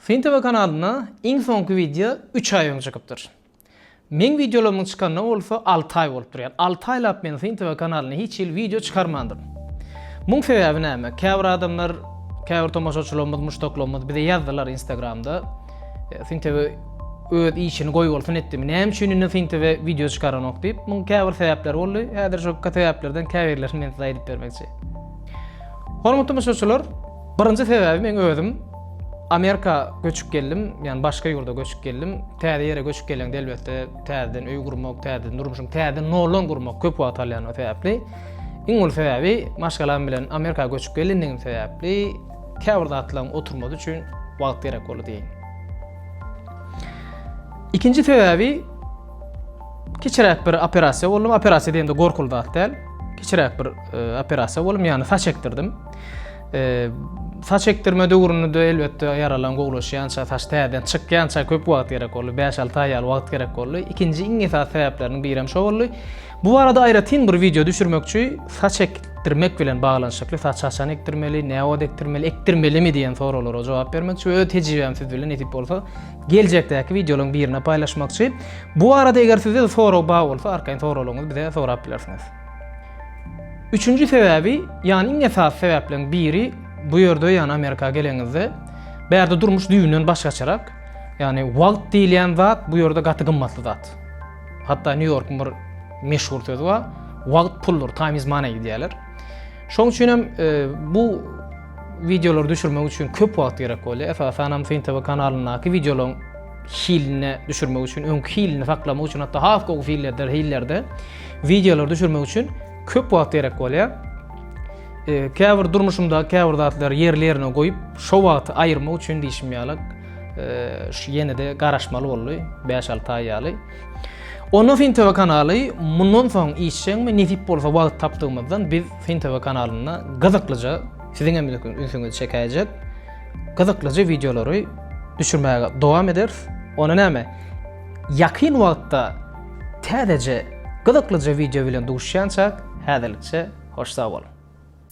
Syn TV kanalynda iň soňky wideo üç aý öň çykypdyr. Meň wideolarymyň çykanyna bolsa alty aý bolupdyr. Ýagny alty aýlap men Syn TV kanalyna hiç hili wideo çykarmandyryn. Muň sebäbi näme? Käbir adamlar, käbir tomaşaçylarymyz, muşdaklarymyz bize ýazdylar Instagramda. e, Sintebe öz işini goýbolsun etdimi? Näme üçin indi Sintebe wideo çykaranok diýip, muň käbir sebäpleri boldy. Häzir şo sebäplerden käbirlerini men size aýdyp bermekçi. Hormatly muşdaşlar, birinji sebäbi men özüm Amerika göçüp geldim, yani başka yurda göçüp geldim. Täze yere göçüp gelen elbette täzeden öý gurmak, täzeden durmuşum, täzeden nollan gurmak köp wagt alýan o sebäpli. Iň ol sebäbi maşgalam bilen Amerika göçüp gelendigim sebäpli Käbir zatlaryň oturmasy üçin wagt gerek boldy diýeýin. Ikinji sebäbi kiçiräk bir operasiýa boldum. Operasiýa diýende gorkuly zat däl. Kiçiräk bir e, operasiýa boldum, ýagny saç ekdirdim. E, saç ekdirme döwründe elbetde ýaralan gowlaşýança, saç täzeden çykýança köp wagt gerek boldy. 5-6 aý ýaly wagt gerek boldy. Ikinji iň esasy sebäpleriniň biri hem şo boldy. Bu barada aýratyn bir wideo düşürmekçi, saç ekdirmek bilen baglanyşykly, saç haçan ekdirmeli, näwagt ekdirmeli, ekdirmelimi diýen soraglara jogap bermekçi we öz tejribämi siz bilen nesip bolsa geljekdäki wideolaryň birinde paýlaşmakçy. Bu barada eger sizde sorag bar bolsa, arkaýyn soraglaryňyzy bize sorap bilersiňiz. Üçünji sebäbi, ýagny iň esasy sebäpleriň biri bu ýerde, ýagny Amerika geleniňizde, bärde durmuş düýbünden başgaçarak. Ýagny wagt diýilýän zat bu ýerde gaty gymmatly zat. Hatda Nýu-Ýorkuň bir meşhur sözi bar, Wagt puldur, time is money diýýärler. Şoň üçin hem e, bu wideolary düşürmek üçin köp wagt gerek bolýar. Esasan hem Fin TV kanalyndaky wideolaryň hilini düşürmek üçin, öňki hilini saklamak üçin, hatda has gowy fillerde, hillerde wideolary düşürmek üçin köp wagt gerek bolýar. E, käbir durmuşymda käbir zatlary ýerli ýerine goýup, şo wagty aýyrmak üçin diýşim ýaly şu ýene-de garaşmaly boldy, 5-6 aý ýaly. Onda Fin TV kanaly mundan soň işjeňmi nesip bolsa wagt tapdygymyzdan biz Fin TV kanalynda gyzyklyja siziň hem ünsüňizi çekäýjek gyzyklyja wideolary düşürmäge dowam ederis. Ona näme? Ýakyn wagtda täzeje gyzyklyja wideo bilen duşýançak, häzirlikçe hoş sag boluň.